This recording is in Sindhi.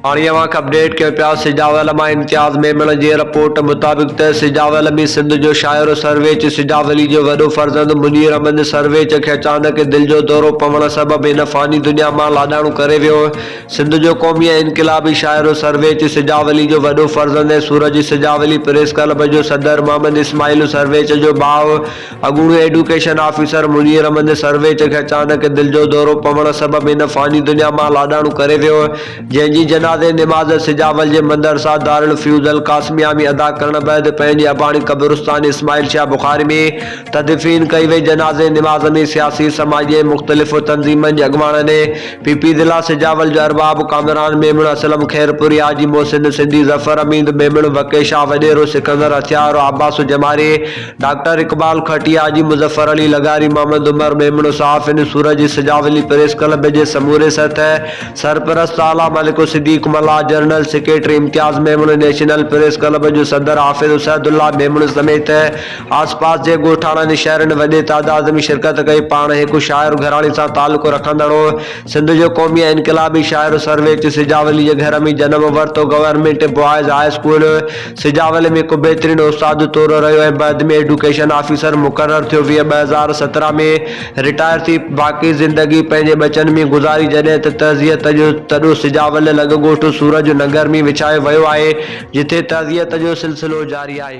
هاڻي اوهان کي اپڊيٽ ڪيو پيا سجاو علماء امتياز ميمڻ جي رپورٽ مطابق ته سجاو علمي سنڌ جو شاعر سرويچ سجاو علي جو وڏو فرزند منير احمد سرويچ کي اچانڪ دل جو دورو پوڻ سبب هن فاني دنيا مان لاڏاڻو ڪري ويو سنڌ جو قومي ۽ انقلابي شاعر سرويچ سجاو علي جو وڏو فرزند ۽ سورج سجاو علي پريس ڪلب جو صدر محمد اسماعيل سرويچ جو ڀاء اڳوڻو ايڊوڪيشن آفيسر منير احمد سرويچ کي اچانڪ دل جو دورو پوڻ سبب هن فاني دنيا مان لاڏاڻو ڪري ويو هو، جنهن جي جنازي نماز سجاول جي مدرسه دارالفيوض القاسميه ۾ ادا ڪرڻ بعد پنهنجي اباڻي قبرستان اسماعيل شاهه بخاري ۾ تدفين ڪئي وئي، جنازي نماز ۾ سياسي، سماجي ۽ مختلف تنظيمن جي اڳواڻن ۽ پي پي ضلع سجاول جو ارباب ڪامران ميمڻ اسلم خيرپوري، حاجي محسن سنڌي، ظفر اميد ميمڻ، وڪي شاهه وڏيرو، سڪندر هٿيارو، عباس جماري، ڊاڪٽر اقبال کهٽي، حاجي مظفر علي لغاري، محمد عمر ميمڻو، صحافين سورج جي سجاولي پريس ڪلب جي سموري سطح، سرپرست اعليٰ ملڪ الصديق ملاح، جنرل سيڪريٽري امتياز ميمڻو، نيشنل پريس ڪلب جو صدر حافظ اسعد الله ميمڻو سميت آسپاس جي ڳوٺاڻن ۽ شهرن وڏي تعداد ۾ شرڪت ڪئي. پاڻ هڪ شاعر گهراڻي سان تعلق رکندڙ هو. سنڌ جو قومي ۽ انقلابي شاعر سرويچ سجاولي جي گهر ۾ جنم ورتو. Government boys high school, Sujawal ۾ هڪ بهترين استاد طور رهيو ۽ بعد ۾ ايڊوڪيشن آفيسر مقرر ٿيو. ويهه ٻه هزار سترهن ۾ رٽائر ٿي باقي زندگي پنهنجي ٻچن ۾ گذاري جڏهن ته تعزيت جو تڏو سجاول لڳ ڳوٺ سورج نگر ۾ وڇايو ويو آهي جتي تعزيت جو سلسلو جاري آهي.